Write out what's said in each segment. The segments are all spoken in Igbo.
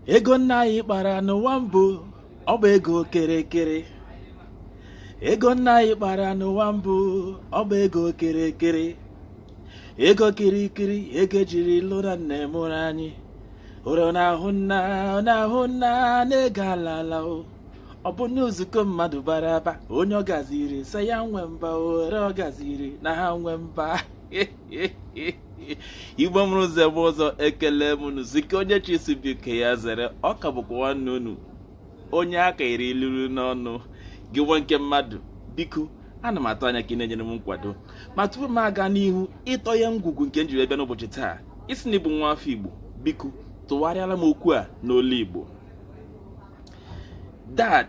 ego nna anyị kpara n'ụwa mbụ ọ bụ ego kerekere ego nna anyị kpara n'ụwa mbụ ọ bụ ego kerekere ego kirikiri ego jiri lụra nne mụrụ anyị ụrụ na-ahụ nna ọ na-ahụ nna na-ego ala ala o ọ bụ na nzukọ mmadụ bara aba onye ọ gaziri sị ya nwe mba ọra ọ gaziri na ha nwe mba igbo mụrụ eze mụọ ọzọ ekele m unu sị nke onye chi si biko ya zere ọ ka bụkwa nwanne unu onye aka iri ilulu n'ọnụ gị nwa nke mmadụ biko ana m atụ anya ka ị na-enyere m nkwado ma tupu m aga n'ihu ịtọ ya ngwugwu nke m jiri bịa n'ụbọchị taa ị sị na ị bụ nwa afọ igbo biko tụgharịara m okwu a n'olu igbo dad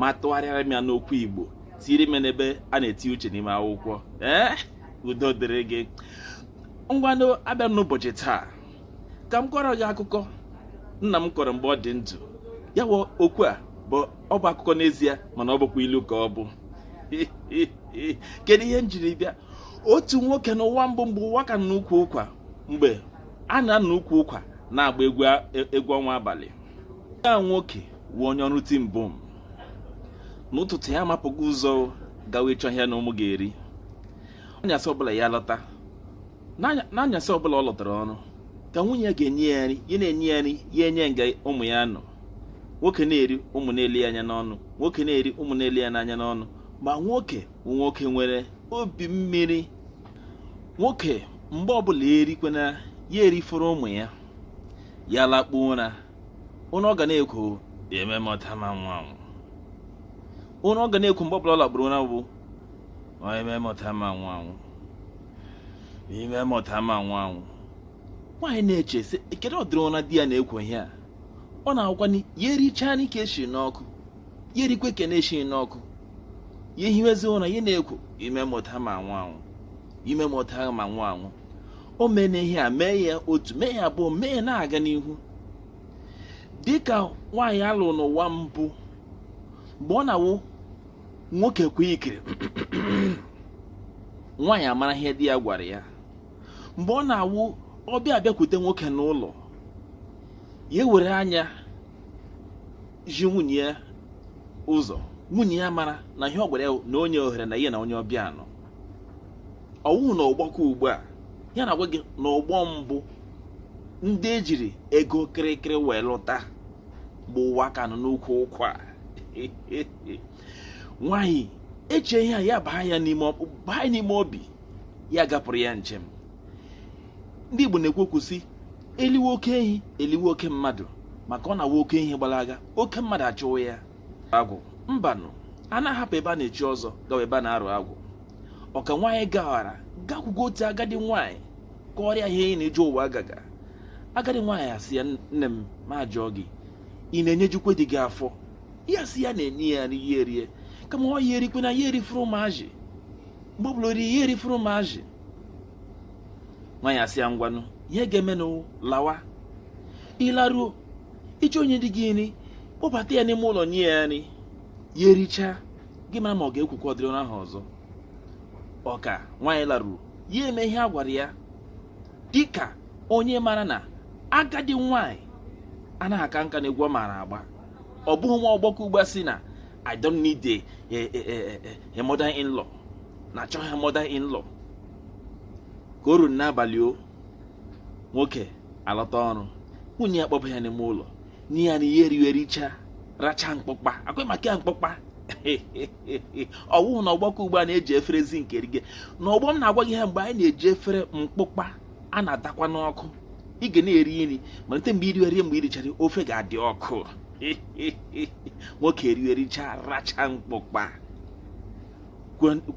ma tụgharịara m ya n'okwu igbo tiiri m n'ebe a na-eti uche n'ime akwụkwọ ee eh? udo dịrị gị ngwanụ abịa m n'ụbọchị taa ka m kọọrọ gị akụkọ nna m kọrọ mgbe ọ dị ndụ ya wụ okwu a bụ ọ bụ akụkọ n'ezie mana ọ bụkwa ilu ka ọ bụ kedu ihe m jiri bịa otu nwoke n'ụwa mbụ mgbe ụwa ka nọ n'ukwu ụkwa mgbe a na-anọ n'ukwu ụkwa na-agba egwu ọnwa abalị ya nwoke wụ onye ọrụ ti mbụ m n'ụtụtụ ya amapụgo ụzọ gawa ịchọ ihe ya na ụmụ ga-eri anyasị ọbụla ya lọta n'anyasị ọbụla ọ lọtara ọrụ ka nwunye ya ga-enye ya nri ya na-enye ya nri ya enye nga ụmụ ya nọ nwoke na-eri ụmụ na-ele ya anya n'ọnụ nwoke na-eri ụmụ na-ele ya n'anya n'ọnụ ma nwoke bụ nwoke nwere obi mmiri nwoke mgbe ọbụla erikwana ya erifọrọ ụmụ ya ya lakpuo ụra ụra ọ ga na-ekwo ime mọta ma nwa anwụ ụra ọ ga na-ekwo mgbe ọbụla ọ lakpuru ụra bụ ime mọta ma nwa anwụ ime mọta ma nwa anwụ nwaanyị na-eche sị kedu ụdịrị ụra di ya na-ekwo ihe a ọ na-awụkwanụ ya erichaa nke e siri n'ọkụ ya erikwe nke na-esi n'ọkụ ya ehiwezi ụra ya na-ekwo ime mọta ma nwa anwụ ime mọta ma nwa anwụ o mena ihe a mee ya otu mee ya abụọ mee ya na-aga n'ihu dịka nwaanyị a lụrụ n'ụwa mbụ mgbe ọ na-awụ nwoke kwe ikiri nwaanyị amara ihe di ya gwara ya mgbe ọ na-awụ ọbịa abịakwute nwoke n'ụlọ ya were anya zi nwunye ya ụzọ nwunye ya mara na ihe ọ gwara ya na o nye ohere na ya na onye ọbịa nọ ọwụhụ na ọgbọ ke ugbu a ya na-agwa gị na ọgbọ mbụ ndị ejiri ego kịrịkịrị wee lụta mgbe ụwa ka nọ n'ukwu ụkwa nwanyị echee ihe a ya baa ya n'ime obi ya gapụrụ ya njem ndị Igbo na-ekwu okwu sị eliwe oke ehi eliwe oke mmadụ maka ọ na-awụ oke ehi gbalaga oke mmadụ achụwa ya agwụ mbanụ a na-ahapụ ebe a na-echi ọzọ gawa ebe a na-arụ agwụ ọ ka nwaanyị gawara gakwugo otu agadi nwaanyị kọọrọ ya ihe ya na ije ụwa agaga agadi nwaanyị asị ya nne m ma jụọ gị ị na-enyejukwe di gị afọ ya sị ya na-enye ya nri ya erie kama na ya erikwe na ya erifọrọ ụmụazị mgbe ọ bụla o ri ya erifọrọ ụmụazị nwaanyị asị ya ngwanụ ihe ị ga-emenụ lawa ị laruo ị chọọ inye di gị nri kpọbata ya n'ime ụlọ nye ya nri ya erichaa gị mara ma ọ ga-ekwukwa ụdịrị ụra ahụ ọzọ ọ ka nwaanyị laruru ya eme ihe a gwara ya dịka onye mara na agadi nwaanyị anaghị aka nka na egwu ọ maara agba ọ bụghị nwa ọgbọ ke ugbu a sị na i don't need a mother in law na achọghị mother in law ka o ruru n'abalị o nwoke alọta ọrụ nwunye ya kpọba ya n'ime ụlọ nye ya nri ya eriwe richa racha mkpụkpa akwa maka ya mkpụkpa ọwụhụ na ọgbọ ke ugbu a na-eji efere zinc erige na ọgbọ m na-agwa gị ha mgbe anyị na-eji efere mkpụkpa a na-adakwa n'ọkụ ị ga na-eri nri malite mgbe i riwere mgbe i richara ofe ga-adị ọkụ nwoke eriwe richa racha mkpụkpa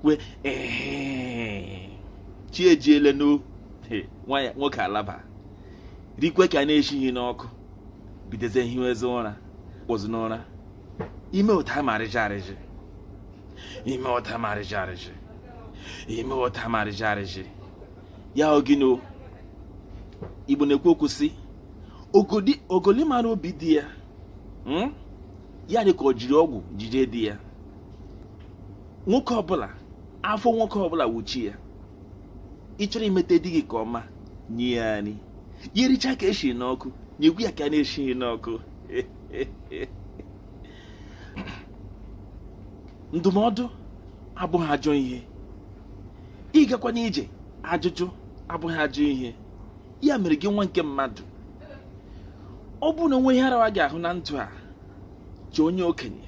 kwe chi ejiele n'o nwoke alaba rikwe ke a na-eshighi n'ọkụ bidozie hiwezi ụra kpọzi n'ụra ime ụta marịja arịjị ime ụta marịja arịjị ime ụta marịja arịjị ya o ji ndị igbo na-ekwu okwu sị ogoli mara obi di ya hmm? ya dị ka o jiri ọgwụ jide di ya nwoke ọbụla afọ nwoke ọbụla wụ chi ya ị chọrọ imete di gị ke ọma nye ya nri ya ericha ke eshiri n'ọkụ nyekwu ya ke a na-eshighi n'ọkụ ndụmọdụ abụghị ajọ ihe ịgakwa n'ije ajụjụ abụghị ajọ ihe ya mere gị nwa nke mmadụ ọ bụrụ na o nwee ihe arawa gị ahụ na ndụ a chọọ onye okenye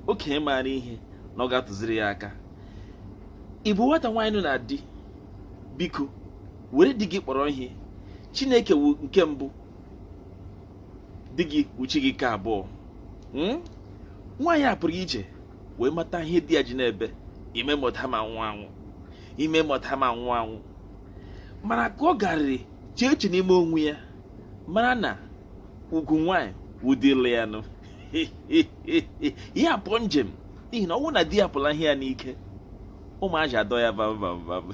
okenye maara ihe na ọ ga-atụziri ya aka ị bụ nwata nwaanyị nọ na di biko were di gị kpọrọ ihe chineke wụ nke mbụ di gị wụ chi gị nke abụọ hmm? nwaanyị a pụrụ ije wee mata ihe di ya ji na-ebe i mee m otu a m anwụ anwụ i mee m otu a m anwụ anwụ mana ka ọ garịrị chee eche n'ime onwe ya mara na ugwu nwaanyị wụ di la ya nụ ya pụọ njem n'ihi na ọ bụrụ na di ya pụla ihe ya n'ike ụmụ azị adọọ ya vam vam vam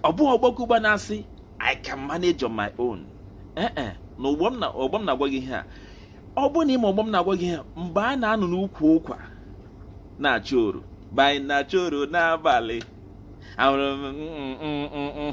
ọ bụghị ọgbakụgba na-asị I can manage on my own ee eh, eh, na ọgbọ m na-agwa gị ihe a ọ bụrụ na ị ma ọgbọ m na-agwa gị ihe mgbe a na-anọ n'ukwu ụkwa na-achọ oro mgbe anyị na-achọ oro n'abalị ahụrụ m mm, mm, mm,